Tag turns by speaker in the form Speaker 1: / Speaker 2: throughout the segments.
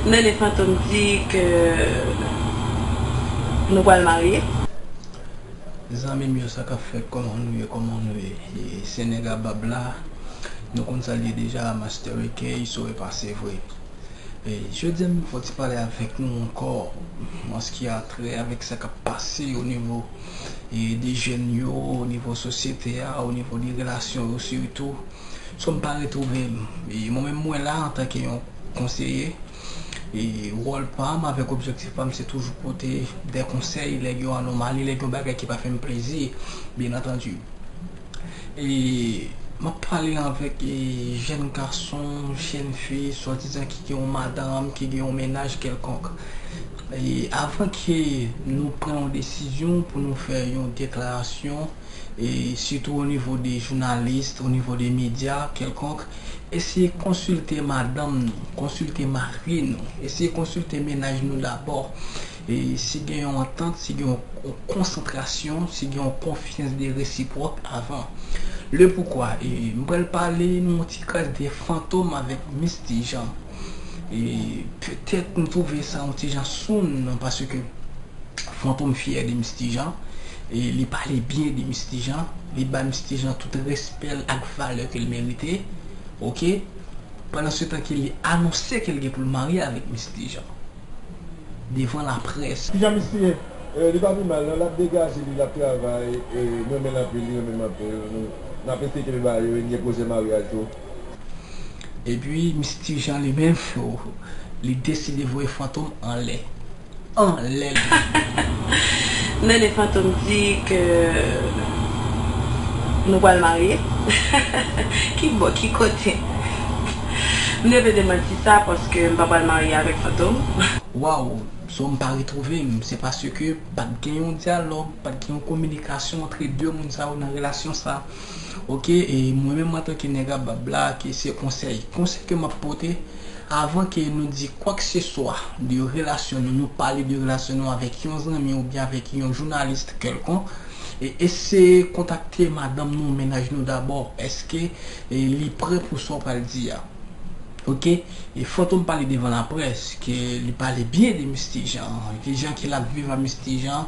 Speaker 1: Nene
Speaker 2: fantom di ke nou pral marye.
Speaker 3: Zanmim yo sakap fèt kòman nou ye kòman nou ye se nèg a bab la nou konn sal ye deja master ekey so epa sevre jodia m fè yon ti pale avèk nou ankò an ski a trè avèk sa kap pase o nivo de jèn yo, o nivo sosyete a, o nivo de relasyon yo sitou. So m pa retwouve m. E mwen menm mwen la antanke yon konseye. E wòl pa m avèk objektif pa m se toujou pote de konsèy lè gen yon anomali, lè gen yon bagay ki pa fè m plezi byen antandi. E m ap pale avèk jèn gason, jèn fi, swadizan ki gen yon madanm, ki gen yon mennaj kèlkonk. Avan ke nou pran yon desizyon pou nou fè yon deklarasyon, sitou onivo de jounalis, onivo de medya kèlkonk, eseye konsilte madanm nou, konsilte mari nou, eseye konsilte mennaj nou dabò. Si gen yon antant, si gen yon konsantrasyon, si gen yon konfyans de resipwòk avan. Le poukwa, m pral pale nou yon ti kras de fantom avèk Misty Jean. E petèt m twouve sa yon ti jan soun nan paske Fantom fyè de Misty Jean e li pale byen de Misty Jean, li bay Misty Jean tout respè l ak valè ke l merite ok pandansetan ke li anonse ke l gen pou l marye avèk Misty Jean devan laprès. Kijan Misty ye?
Speaker 1: Li pa pi mal non, lap degaje li, lap travay, mrenmenl anpil, li renmenm anpil, nap eseye kenbe ba yo e m gen pwojè maryaj tou.
Speaker 3: Epi Misye Ti Jean li menm li deside voye Fantom anlè. Anlè li
Speaker 2: ye. Nene Fantom di ke nou pral marye. Ki bò, ki kote? M deve demanti sa paske m pa pral marye avèk Fantom. Waww
Speaker 3: so m pa retwouve m se paske pat gen yon dyalòg, pat gen yon kominikasyon antre 2 moun sa yo nan relasyon sa. Ok e mwen menm antanke nèg a bab la ke se konsèy konsèy ke map pote avan ke nou di kwak se swa de relasyon nou nou pale de relasyon nou avèk yon zanmi oubyen avèk yon journaliste kèlkonk e eseye kontakte madanm nou mennaj nou dabò eske li prè pou sa ou pral di a ok e fantom pale devan laprès ke li pale byen de Misty Jean ki jan ke lap viv a Misty Jean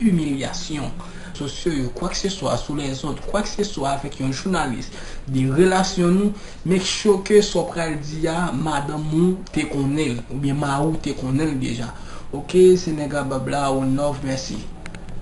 Speaker 3: imilyasyon, sosyo yo, kwakseswa sou lèzòt, kwakseswa avèk yon jounalis, de relasyon nou, make sure ke sa w pral di a madanm ou te konnen l oubyen mari w te konnen l deja ok se Negrabab la one love mèsi.